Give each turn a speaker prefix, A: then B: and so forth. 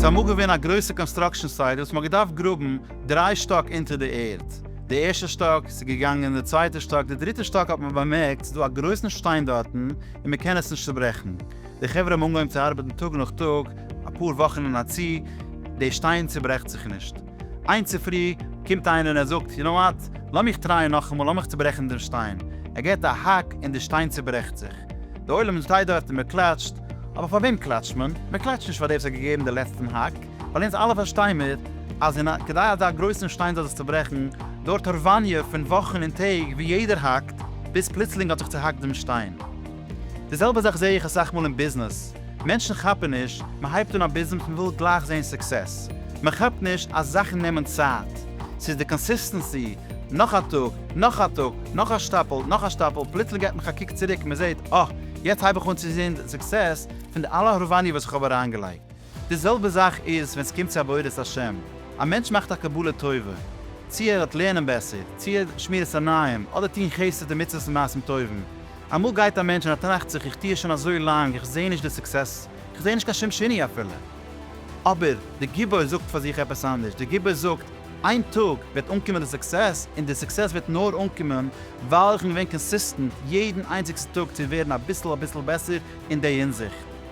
A: ס'איז אמאל געווען א גרויסע קאנסטראקשען סייט וואס מ'האט געדארפט גראבן דריי שטאק אונטער די ערד. די ערשטע שטאק, ס'איז געגאנגען די צווייטע שטאק, די דריטע שטאק האט מען באמערקט ס'איז דא א גרויסן שטיין דארטן און מ'קען עס נישט צוברעכן. די חברה האבן אנגעהויבן צו ארבעטן טאג נאך טאג, אפאר וואכן אין א צי, די שטיין צוברעכט זיך נישט. איין צופרי קומט איינער און ער זאגט, יו נאו וואט, לאמיך טרייען נאכאמאל, לאמיך צוברעכן דעם שטיין. ער געט א האק און די שטיין צוברעכט זיך. די עולם שטייט דארט און מען קלאטשט. אבער פאר וועם קלאטשט מען? מען קלאטשט נישט פאר דעם וואס האט געגעבן די לעצטן האק, ווייל אונז אלע פארשטיי מיר אז אין א, כדי אזא גרויסן שטיין זאל זיך צוברעכן, דויערט הארוואניע פון וואכן און טעג וואו יעדער האקט, ביז פלוצלינג האט זיך צוהאקט דעם שטיין. די זעלבע זאך זעה איך אסאך מאל אין ביזנעס, מענטשן כאפן נישט, מען הייבט אן א ביזנעס מען וויל גלייך זען סוקסעס, מען כאפט נישט אז זאכן נעמען צייט, ס'איז די קאנסיסטענסי, נאך א טאג, נאך א טאג, נאך א שטאפל, נאך א שטאפל, פלוצלינג געט מען זיך א קוק צוריק, מען זעט, אה, יעצט הייב איך אן צו זען סוקסעס פון די אלע הארוואניע וואס איך האב אריינגעלייגט. די זעלבע זאך איז ווען ס'קומט צו עבודת השם. א מענטש מאכט א קבלה טובה, צו ער האט לערנען בעסער, צו ער שמירת עניים, אדער טון חסד און מצוות און מעשים טובים. אמאל גייט א מענטש און ער טראכט זיך איך טו עס שוין אזוי לאנג, איך זעה נישט די סוקסעס, איך זעה נישט קיין שום שיני אפילו. אבער די גיבור זאגט פאר זיך עפעס אנדערש, די גיבור זאגט, איין טאג וועט אנקומען די סוקסעס, און די סוקסעס וועט נאר אנקומען ווייל איך בין געווען קאנסיסטענט יעדן איינציגסטן טאג צו ווערן אביסל אביסל בעסער אין די הינזיכט.